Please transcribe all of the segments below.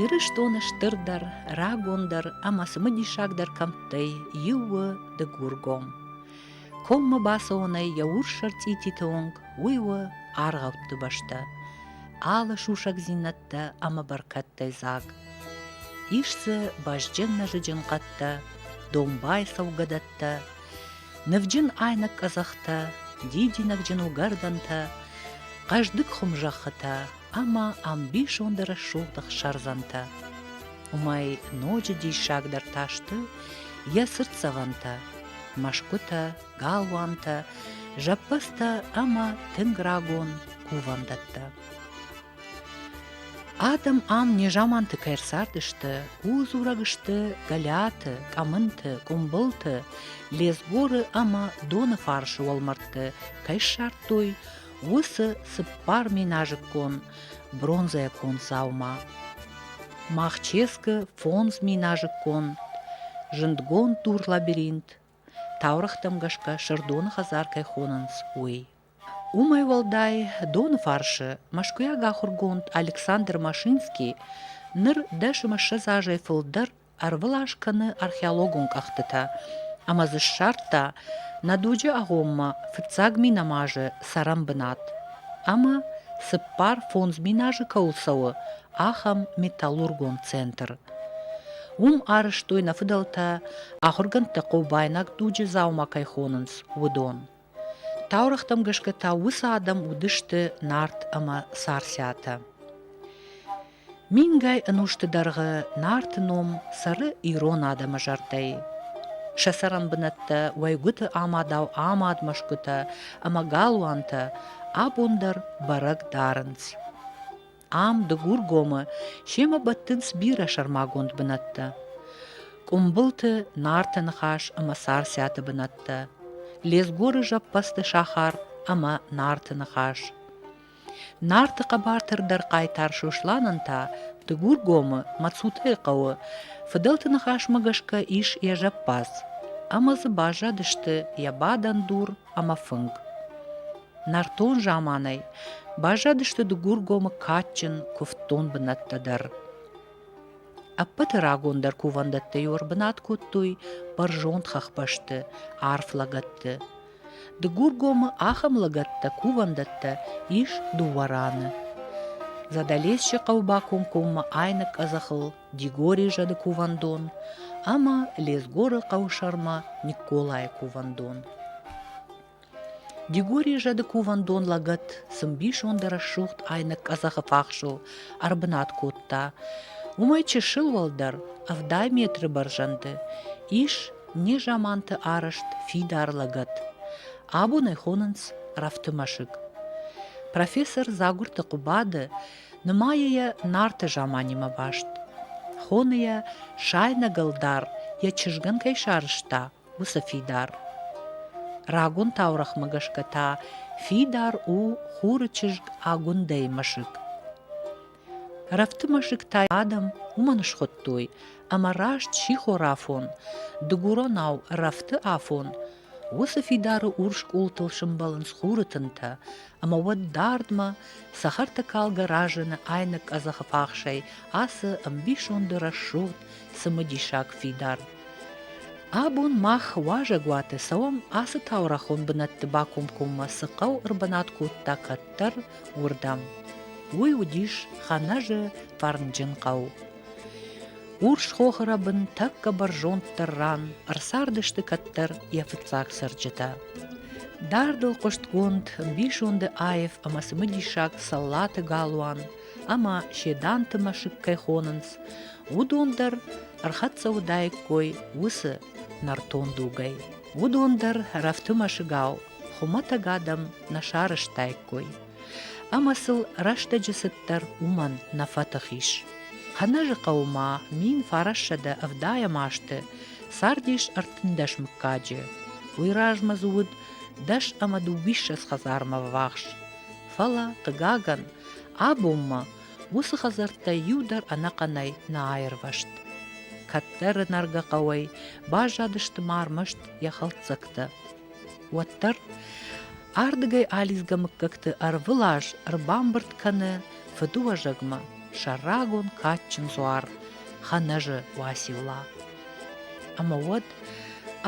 Ирыстоны стырдӕр, рагондӕр ӕмӕ цымыдисагдӕр кӕмттӕй иу у Дыгургом. Коммӕ бацӕуӕнӕй йӕ урс ӕрцъититы онг уый у аргъӕутты бӕстӕ, алы сусӕгдзинӕдтӕ ӕмӕ бӕркӕдтӕй дзаг. Ис дзы бӕзджын-нӕзыджын хъӕдтӕ, домбай цӕугӕдӕттӕ, Нывджын айнӕг къӕдзӕхтӕ, дидинӕгджын угӕрдӕнтӕ, хъӕздыг хуымзӕххытӕ ӕмӕ ӕмбисонды рӕсугъд ӕхсӕрдзӕнтӕ. Уымӕй ноджы диссагдӕр та сты йӕ цыртдзӕвӕнтӕ, мӕсгуытӕ, галуантӕ, зӕппӕдзтӕ ӕмӕ тынг рагон кувӕндӕттӕ. Адӕм ам незаманты кӕй ӕрцардысты, ӕрдзурӕг сты Гӕлиаты, Къӕмынты, Къуымбылты, Лезгоры ӕмӕ Доны фарсы уӕлмӕрдты кӕй ссардтой, уыцы цыппар миназыккон бронзӕйӕ дзаума. Махческы фондз миназыккон, зындгонд дур-лабиринт, таурӕгътӕм гӕсгӕ Сырдоны хӕдзар кӕй хонынц, уый. Уымӕй уӕлдай, доны фарсы мӕскуыйаг ахуыргонд Александр Машинский ныр дӕсымыссӕдз азӕй фылдӕр ӕрвылаз кӕны археологон кӕхтытӕ ӕмӕ дзы ссардта нӕ дуджы агъоммӕ фыццаг минамазы цӕрӕнбынат ӕмӕ цыппар фондз мин азы кӕуыл цӕуы, ахӕм металлургон центр. Уым арӕзтой нӕ фыдӕлтӕ, ахуыргӕндтӕ хъобайнаг дуджы дзаума кӕй хонынц, уыдон. Таурӕгътӕм гӕсгӕ та уыцы адӕм уыдысты Нарт ӕмӕ Царциатӕ. Мингай ӕнусты дӕргъы Нарты ном цӕры ирон адӕмы зӕрдӕйы. Сӕ цӕрӕнбынӕттӕ, уӕйгуыты амадау амад мӕсгуытӕ ӕмӕ галуантӕ абон дӕр бӕрӕг дарынц. ам, Дыгургомы, семӕ бӕттынц бирӕ сӕрмагонд бынӕттӕ. Къуымбылты, Нарты ныхас ӕмӕ Царциаты бынӕттӕ, Лезгоры зӕппӕдзты сахар ӕмӕ Нарты ныхас. Нарты хъӕбатырдӕр хъайтар Сосланӕн та Дыгургомы, Мацутӕйы хъӕуы, фыдӕлты ныхасмӕ гӕсгӕ ис йӕ зӕппадз, ӕмӕ дзы баззадысты йӕ бадӕн дур ӕмӕ фынг. Нӕртон заманӕй баззадысты Дыгургомы кадджын, куывддон бынӕттӕ дӕр. Ӕппӕты рагондӕр кувӕндӕттӕ-иу ӕрбынат кодтой бӕрзонд хӕхбӕсты, арф лӕгӕтты. Дыгургомы ахӕм лӕгӕттӕ, кувӕндӕттӕ ис дыууӕ раны. Задӕлесчы хъӕуы бакомкоммӕ айны къӕдзӕхыл Дигори зӕды кувӕндон ӕмӕ Лезгоры хъӕусӕрмӕ Никколайы кувӕндон. Дигори зӕды кувӕндон лӕгӕт цы мбисонды рӕсугъд айнӕг къӕдзӕхы фахсыл ӕрбынат кодта, уымӕй чысыл уӕлдӕр ӕвдай метры бӕрзӕнды ис незаманты арӕзт фидар лӕгӕт. Абон ӕй хонынц рӕфты мӕсыг. Профессор Дзагуырты Хъуыбады нымайы йӕ Нарты заманимӕ баст. Хоны йӕ, сайнӕг ӕлдар йӕ чызгӕн кӕй сарызта, уыцы фидар. Рагон таурӕгъмӕ гӕсгӕ та фидар у хуры чызг Агуындӕйы мӕсыг. Рӕфты мӕсыг та адӕм уымӕн схуыдтой, ӕмӕ раст сихорафон, дыгуронау рӕфты афон, уыцы фидары урс къултыл сымбӕлынц хуры тынтӕ, ӕмӕ уӕд дардмӕ цӕхӕртӕ калгӕ разыны айнӕг къӕдзӕхы фахсӕй ацы ӕмбисонды рӕсугъд цымыдисаг фидар. Абон мах уазӕгуаты цӕуӕм, ацы таурӕхон бынӕтты бакомкоммӕ цы хъӕу ӕрбынат кодта кӕддӕр, уырдӕм. Уый уыдис Ханӕжы фӕрнджын хъӕу. Урс хохы бын тӕккӕ бӕрзонддӕр ран ӕрцардысты кӕддӕр йӕ фыццаг цӕрджытӕ. Дардыл хъуыстгонд бисонды аив ӕмӕ цымыдисаг Цӕллаты галуан ӕмӕ Седанты мӕсыг кӕй хонынц, уыдон дӕр ӕрхӕццӕ уыдаиккой уыцы нӕртон дугӕй. Уыдон дӕр рӕфты мӕсыгау хуымӕтӕг адӕм нӕ сарӕзтаиккой. Ӕмӕ сыл рӕстӕджы цыддӕр уымӕн нӕ фӕтых ис. Хӕнӕжы хъӕумӕ мин фарассӕдӕ ӕвдайӕм азты цардис ӕртындӕс мыггаджы. Уый размӕ дзы уыд дӕс ӕмӕ дыууиссӕдз хӕдзармӕ ввахс. Фӕлӕ, хъыгагӕн, абонмӕ Уыцы хӕдзӕрттӕй иу дӕр ӕнӕхъӕнӕй нӕ аирвӕзт. Кӕддӕры нӕргӕ хъӕуӕй баззадысты ма ӕрмӕст йӕ хӕлддзӕгтӕ. Уӕддӕр ардыгӕй алидзгӕ мыггӕгты ӕрвылаз ӕрбамбырд кӕны фыдыуӕзӕгмӕ сӕ рагон кадджын дзуар Хӕнӕжы Уацилла. Ӕмӕ уӕд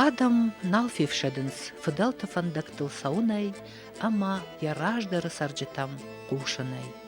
адӕм нал фефсӕдынц фыдӕлты фӕндӕгтыл цӕуынӕй ӕмӕ йӕ раздӕры цӕрджытӕм хъусынӕй.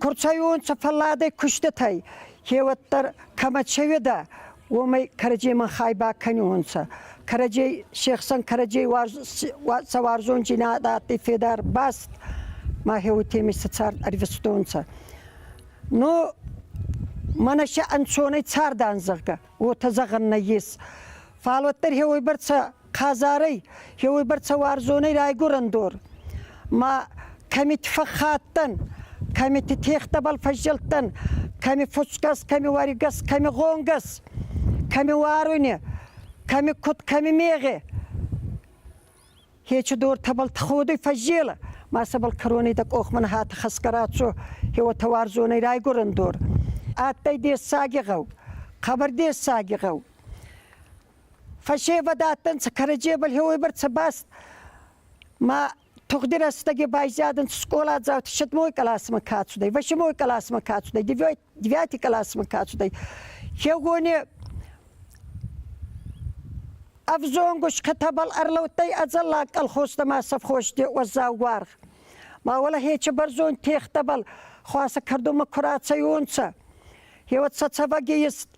Ку рцайуонцӕ фӕлладӕй куститӕй, кеуӕддӕр кӕмӕ цӕуедӕ, уомӕй кӕрӕдземӕн хай бакӕниуонцӕ. Кӕрӕдзей се хсӕн кӕрӕдзей сӕ уарзондзийнадӕ адтӕй федар баст, махе уотемӕй сӕ цард ӕрвистонцӕ. Но мӕнӕ сӕ ӕнцонӕй цардан, зӕгъгӕ, уотӕ зӕгъӕн нӕййес. Фал уӕддӕр хеуойбӕрцӕ Хъазарӕй, еуебӕрцӕ уарзонӕй райгурӕн дор. Ма кӕмит фӕххаттан, кӕмити техтӕбӕл фӕззелдтан, кӕми фуцгӕс, кӕми уаригӕс, кӕми гонгӕс, кӕми уаруйне, кӕми куд, кӕми мегъе. Хечи дортӕбӕл ходуй фӕззелӕ, ма сӕбӕл кӕронӕй дӕ къохмӕн хатӕ хӕсгӕ рацо, еуотӕ уарзонӕй райгурӕн дор. Адтӕй дессаги гъӕу, хъӕбӕр дессаги гъӕу. Фӕсевӕдӕттӕнцӕ кӕрӕдзебӕл еуебӕрцӕ баст ма тугъди рӕстӕги байзадӕнцӕ скъоладзаути седмой къласмӕ ка цудӕй, восьмой къласмӕ ка цудӕй, девять, девятый къласмӕ ка цудӕй. Хеугони ӕвзонгус кӕтӕбӕл ӕрлӕудтӕй ӕдзӕллаг колхозтӕ ма совхозти уӕззау уаргъ. Ма уӕлӕ хечи бӕрзонд техтӕбӕл хуасӕ кӕрдумӕ ку рацӕйуонцӕ, еуӕд сӕ цӕвӕги ест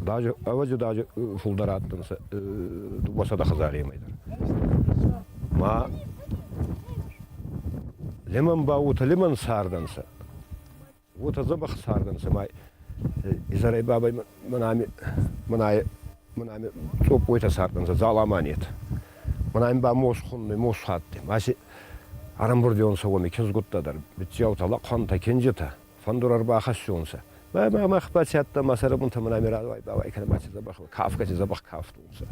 Даже, ӕвӕдза, даже фулдӕр адтӕнцӕ дууӕсӕдӕ хӕдзаремӕй дӕр. Ма лимӕн ба уотӕ лимӕн цардӕнцӕ. Уотӕ дзӕбӕх цардӕнцӕ ма изӕрӕй бабӕй мӕн ами мӕн ами цъоппойтӕ цардӕнцӕ, дзалама нет. Мӕн ами ба мос хуннӕй, мос фӕдтӕй. Ма си ӕрӕмбурдӕнцӕ уоми киндзгуттӕ дӕр, битдзиаутӕ, лӕхъуӕнтӕ, кинджитӕ. фӕндур ӕрбахӕссунцӕ. Мӕ мах ба ци адтан ма сӕрӕбунтӕ мӕ нӕми радуай-бауай кӕнӕ ма ци дзӕбӕх, кафгӕти дзӕбӕх кафтонцӕ.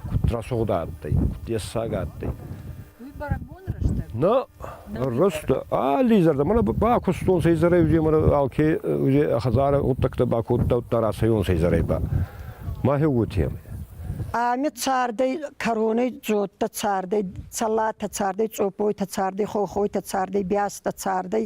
Куд рӕсугъд адтӕй, куд ессаг адтӕй. Уи бӕрӕгбон рӕстӕг? На, рӕстӕг. Алли зӕрдӕ. Мӕнӕ бакустонцӕ изӕрӕй узе мӕрӕ алке узе хӕдзарӕ гъуддӕгтӕ бакодтаудта рацӕйонцӕ изӕрӕй ба. Махе уотемӕй. Ами цардӕй кӕронӕй дзодтӕ цардӕй, цӕллатӕ цардӕй, цъоппойтӕ цардӕй, хохойтӕ цардӕй, бястӕ цардӕй,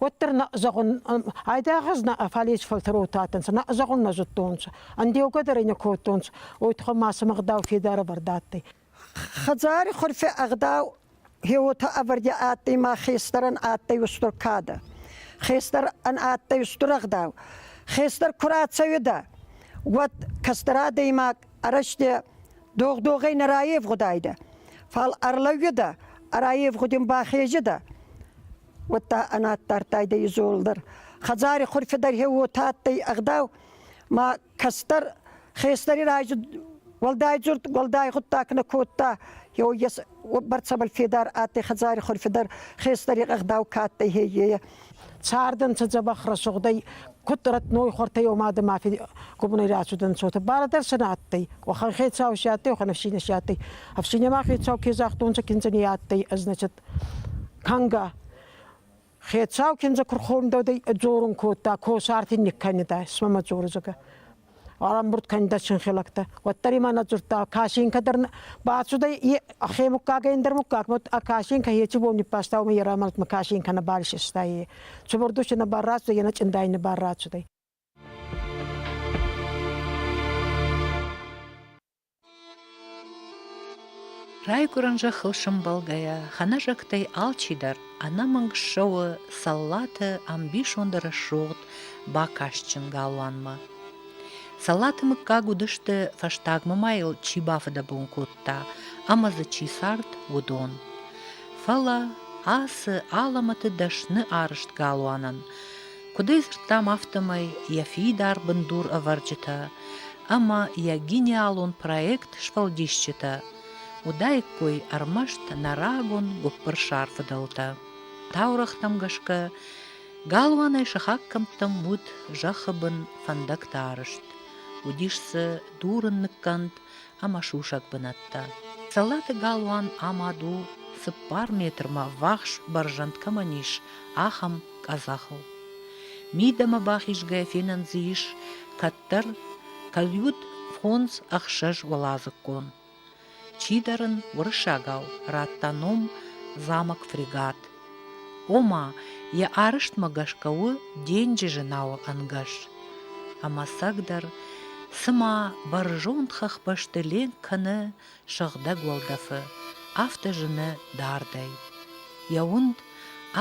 Уӕддӕр на зӕгъун, айдагъаз на фалес фӕлтӕротатӕнцӕ, на зӕгъун нӕ зудтонцӕ. Андеугӕ дӕр не кодтонцӕ, уайтхӕ ма сӕм ӕгъдау федарӕвӕрд адтӕй. Хӕдзари хурфи ӕгъдау еуотӕ ӕвӕрдӕ адтӕй ма хестӕрӕн адтӕй устур кадӕ. Хестӕр ан адтӕй устур ӕгъдау. Хестӕр ку рацӕуидӕ, уӕд кӕстӕр адӕймаг арӕзтӕ догъ-догъӕй нӕ райевгъудайдӕ. Фал ӕрлӕууидӕ, ӕрайевгъудин бахезидӕ. уӕдта ӕнаддардтайдӕ изол дӕр. Хӕдзари хурфи дӕр хе уотӕ адтӕй ӕгъдау, ма кӕстӕр хестӕри райзи уӕлдайдзурд уӕлдай гъуддаг нӕ кодта, еуйес бӕрцӕбӕл федар адтӕй хӕдзари хурфи дӕр хестӕри ӕгъдау ка адтӕй, хеййе. Цардӕнцӕ дзӕбӕх рӕсугъдӕй, куд рӕтной хуӕртӕй омадӕ ма фи губунӕй рацудӕнцотӕ. Барадӕр сӕ нӕ адтӕй. Уӕхӕн хецау си адтӕй, уӕхӕн ӕфсийнӕ си адтӕй. Ӕфсийнӕ ма хецау ке загътонцӕ киндзӕни адтӕй, ӕз, значит, Кӕнгӕ. Хецау киндзӕ ку рхондодӕй ӕ дзорун кодта, косарти никкӕнидӕ, исмӕ мӕ дзоридзагӕ. Ӕрӕмбурд кӕнидӕ синхилӕгтӕ. Уӕддӕр имӕ нӕ дзурдта, касинкӕ дӕр бацудӕй е ӕхе муггагӕй ӕндӕр муггаг, ма ӕ касинкӕ еци бон ниббаста, уомӕ ерӕмӕлдмӕ касинкӕ нӕбал исиста е. Цубурдуси нӕбал рацудӕй, е нӕ чъиндӕй нӕбал рацудӕй. Райгуырӕн зӕххыл сӕмбӕлгӕйӕ, хӕнӕзӕгтӕй алчидӕр ӕнӕмӕнг ссӕуы Цӕллаты ӕмбисонды рӕсугъд бакастджын галуанмӕ. Цӕллаты мыггаг уыдысты, фӕстагмӕ ма йыл чи бафыдӕбон кодта ӕмӕ дзы чи цард, уыдон. Фӕлӕ ацы алӕмӕты дӕсны арызт галуанӕн Куыд ӕй дзырдтам, афтӕмӕй йӕ фидар бындур ӕвӕрджытӕ ӕмӕ йӕ гениалон проект сфӕлдисджытӕ уыдаиккой ӕрмӕст нӕ рагон гуыппырсар фыдӕлтӕ. Таурӕгътӕм гӕсгӕ, галуанӕй сыхаг кӕмттӕм уыд зӕххы бын фӕндӕгтӕ арызт. Уыдис дзы дурын ныккӕнд ӕмӕ сусӕг бынӕттӕ. Цӕллаты галуан амад у, цыппар метрмӕ ввахс бӕрзӕнд кӕмӕн ис, ахӕм къӕдзӕхыл. Мидӕмӕ бахизгӕ фенӕн дзы ис кӕддӕр кӕлюд фондз ӕхсӕз уӕладзыгон. Чидӕр ын уырыссагау радта ном «замок фрегат», Ома, йӕ арӕзтмӕ гӕсгӕ у денджызы науы ӕнгӕс. Ӕмӕцӕгдӕр, цыма бӕрзонд хӕхбӕсты ленк кӕны сыгъдӕг уӕлдӕфы, афтӕ зыны дардӕй. Йӕ уынд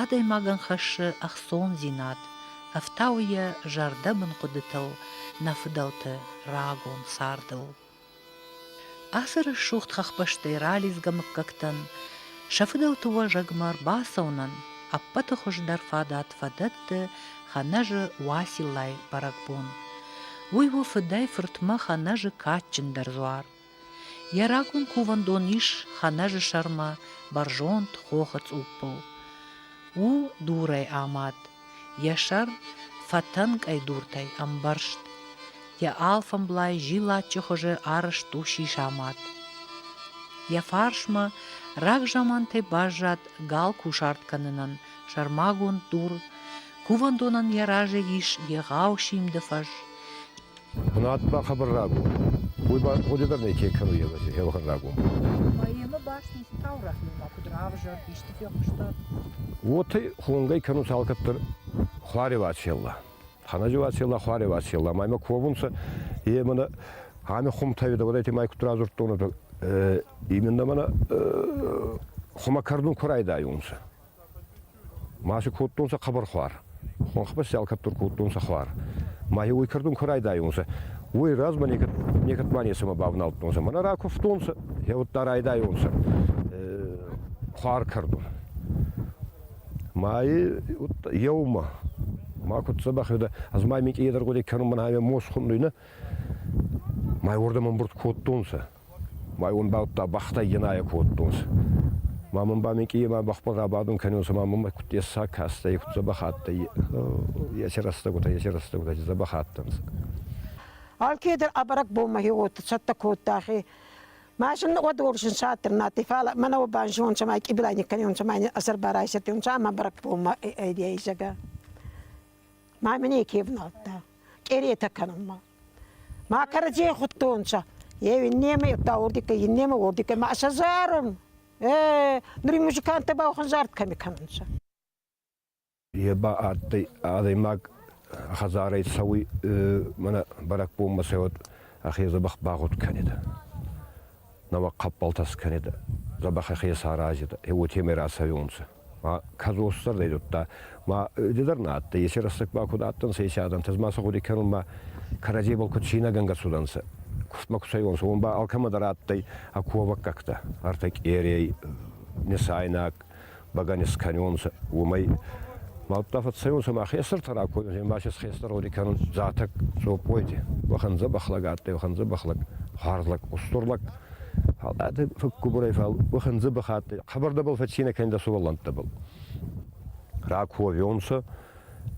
адӕймагӕн хӕссы ӕхцондзинад, ӕфтауы йӕ зӕрдӕбын хъуыдытыл нӕ фыдӕлты рагон цардыл. Ацы рӕсугъд хӕхбӕстӕй ралидзгӕ мыггӕгтӕн сӕ фыдӕлты уӕзӕгмӕ ӕрбацӕуынӕн ӕппӕты хуыздӕр фадат фӕдӕтты Хӕнӕжы Уасилайы бӕрӕгбон. Уый у фыдӕй-фыртмӕ Хӕнӕжы кадджындӕр дзуар. Йӕ рагон кувӕндон ис Хӕнӕжы сӕрмӕ бӕрзонд хохы цъуппыл. У дурӕй амад, Йӕ сӕр фӕтӕнкъӕй дуртӕй ӕмбӕрзт, йӕ алфӕмблай зиллаччы хуызы арызт у сисамад. Йӕ фарсмӕ рагзамантӕй баззад гал кусарт кӕнынӕн сӕрмагонд дур, кувӕндонӕн йӕ разы ис егъау симды фӕз. Бынат бахабӕрраг у. Уый хъуыды дӕр некӕй кӕны Елхан рагон. Поэмӕ бӕстон таурӕгъ нимӕ куыд равзӕр, исты фехъуыста? Уотӕ хонгӕй кӕнунц алкӕддӕр хуари Вачелла. Ханажи Вачелла хуари Вачелла, ӕма ковунцӕ, е мӕнӕ ами хумтӕй дӕ уодӕйти май куд радзурдтонӕ, именно мӕнӕ хумӕ кӕрдун ку райдайунцӕ. Масы кодтонцӕ хъӕбӕрхуар, хуӕнхбӕл се алкӕддӕр кодтонцӕ хуар. Ма уой кӕрдун ку райдайонцӕ, уой размӕ некӕд ма нецӕмӕ бавналдтонцӕ. Мӕнӕ ракувтонцӕ, е удта райдайонцӕ хуар кӕрдун. Ма еумӕ ма куд дзӕбӕх уидӕ, ӕз ма минкъий едӕргъудӕй кӕнун, мӕн ӕмӕ мос хуннуй, нӕ? Ма уордӕмӕ мбурд кодтонцӕ. Байонбӕлттӕ бӕхтӕй енаӕ кодтонцӕ. Ма мин ба Микъийемӕ бӕхбӕл рабадун кӕнонцӕ, ма мӕмӕ куд дессаг кастӕй, куд дзӕбӕх адтӕй, еци рӕстӕгутӕ, еци рӕстӕгутӕ дзӕбӕх адтӕнцӕ. Алкедӕр ӕ бӕрӕгбонмӕ хеуотӕ цӕттӕ кодтахе. Ма зӕннӕгъуӕд уорсун сӕттӕр надтӕй, фал мӕнӕ уобӕн зонцӕ, ма къибилай никкӕнонцӕ, ма ин ӕсӕрбарайсетонцӕ, ӕма бӕрӕгбонмӕ ӕй айсагӕ. Ма мин неке ӕвналдта, къеретӕ кӕнунмӕ. Ма кӕрӕдзийӕ хуыдтонцӕ. Е иннемӕ, уӕдта уордикӕй, иннемӕ уордикӕй. Ма сӕ зарын. Э, нури музыканттӕ ба уӕхӕн зард кӕми кӕнунцӕ? Е ба адтӕй адӕймаг хӕдзарӕй цӕуй, мӕнӕ бӕрӕгбонмӕ цӕуӕд, ӕхе дзӕбӕх багъуд кӕнидӕ. Нӕуӕг хъӕппӕлтӕ скӕнидӕ, дзӕбӕх ӕхе саразидӕ, е уотемӕй рацӕуиунцӕ. кӕдзос сӕрдӕй зудта. Ма дедӕр на адтӕй, есе рӕстӕг ба куд адтӕнцӕ еци адӕнтӕ, ма сӕ гъуди кӕнун ба кӕрӕдзей бӕлкуд цийнӕгӕнгӕ цудӕнцӕ. Кустмӕ кусайуонцӕ, уон ба алкӕмӕ дӕр адтӕй ӕ ковӕггӕгтӕ. Ӕртӕ къерей, несайнаг бӕгӕни скӕнонцӕ, уомӕй. Мӕлттӕ фӕццӕйунцӕ ма хестӕртӕ ракодунцӕ, ма се хестӕр гъуди кӕнун Дзатӕг, Цопойти. Уӕхӕн дзӕбӕх лӕг адтӕй, уӕхӕн дзӕбӕх лӕг, хуарз лӕг, устур лӕг. Фал ӕдӕ фӕггубурӕй, фал уӕхӕндзӕ бахаттай. Хабардӕбӕл фӕццийнӕ кӕнин дӕ сувӕллӕнттӕбӕл. Ракуовионцӕ,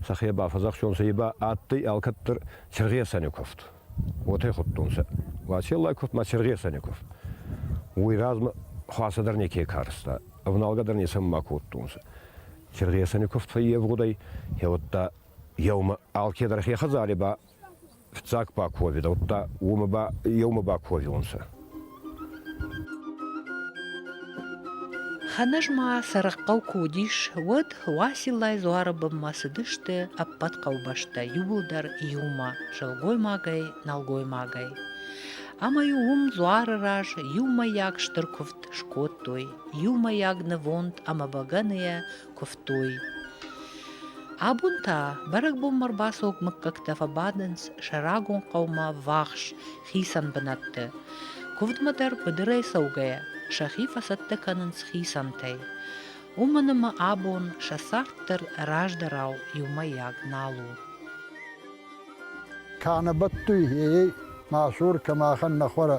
сӕхе бафӕдзахстонцӕ, ба адтӕй алкӕддӕр Чергесанеков. Уотӕ худтонцӕ. Вачеллай ков ма Чергесанеков. Уой размӕ хуасӕ дӕр неке карста, ӕвналгӕ дӕр нецӕмӕ кодтонцӕ. Чергесанеков фӕййевгъудӕй, еудта еумӕ алкедӕр хе хӕдзари ба Фиццаг ба ку уаведӕуттӕ, уомӕ ба еумӕ бакувӕвиуонцӕ. Хӕнӕжмӕ Сӕрыхъӕу куы уыдис, уӕд Уасиллайы дзуары бынмӕ цыдысты ӕппӕт хъӕубӕстӕ иууылдӕр иумӕ, сылгоймагӕй, нӕлгоймагӕй. Ӕмӕ-иу уым дзуары раз иумӕйаг стыр куывд скодтой, иумӕйаг нывонд ӕмӕ бӕгӕныйӕ куывтой. Абон та бӕрӕгбонмӕ рбацог мыггӕгтӕ фӕбадынц сӕ рагон хъӕумӕ ввахс хицӕн бынӕтты. Куывдмӕ дӕр быдырӕй цӕугӕйӕ сӕхи фӕцӕттӕ кӕнынц хицӕнтӕй. Уымӕн ӕмӕ абон сӕ царддӕр раздӕрау иумӕйаг нал у. Кӕнӕ бӕттуй, ей, мӕ сур, кӕ махӕн нӕ хуӕрӕ,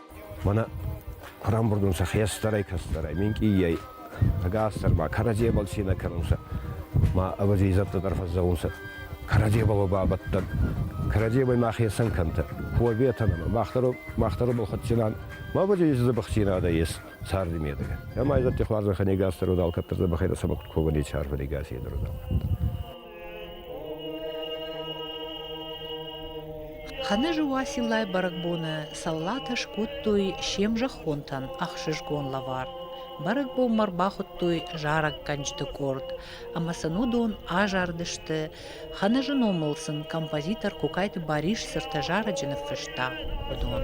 Мӕнӕ рамбурдун сӕ хестӕрӕй, кӕстӕрӕй, минкъийӕй, ӕгасдӕр ба кӕрӕдзебӕл цийнӕ кӕнунцӕ. Ма ӕвӕдзи зӕдтӕ дӕр фӕззӕгъунцӕ, кӕрӕдзебӕл бабӕттӕн, кӕрӕдзебӕй ма хецӕн кӕнтӕ, куӕбетӕн ӕма мах дӕр бал хуӕддзинан, ма бади дзӕбӕхдзийнадӕ ес царди медӕг. Ӕма ӕй зӕдти хуарзӕнхӕ не гасдӕр удал кӕддӕр дзӕбӕхӕй дӕр сӕмӕ куд ковӕн еци арфӕ не гасидӕр удал. Хӕнӕжы Уасилӕй бӕрӕгбоны саллатӕ скодтой се мзӕххонтӕн ӕхсызгон лӕвар. Бӕрӕгбонмӕ ӕрбахуыдтой зарӕггӕнджыты къорд, ӕмӕ сын уыдон азарыдысты. Хӕнӕжы номыл сын композитор Кокайты Барис цыртӕ зарӕджы ныффыста уыдон.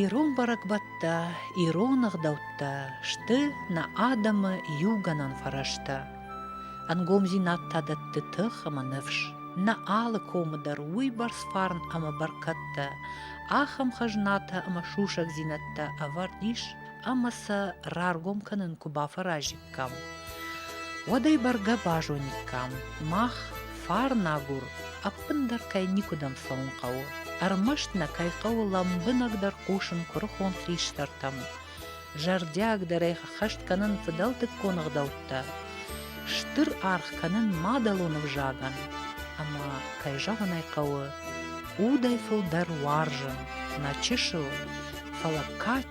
Ирон бӕрӕгбӕттӕ, ирон ӕгъдӕуттӕ сты нӕ адӕмы иугӕнӕн фӕрӕзтӕ. Ӕнгомдзинад та дӕтты тых ӕмӕ ныфс. Нӕ алы комы дӕр уыйбӕрц фарн ӕмӕ бӕркӕдтӕ, ахӕм хӕзнатӕ ӕмӕ сусӕгдзинӕдтӕ ӕвӕрд ис ӕма сӕ раргом кӕнун ку бафӕразиккам, уӕд ӕй бӕргӕ базониккам, мах фарнагур ӕппиндӕр кӕй никудӕм цӕун хъӕуы, ӕрмӕст нӕ кӕй хъӕуы лӕмбунӕгдӕр хъусын курухон хистӕртӕм, зӕрдиагдӕрӕй хӕст кӕнын фыдӕлтыккон ӕгъдӕуттӕ, стыр аргъ кӕнын мадӕлон ӕвзагӕн, ӕма, кӕй зӕгъын ӕй хъӕуы, удӕй фылдӕр уарзын нӕ чысыл, фӕлӕ кад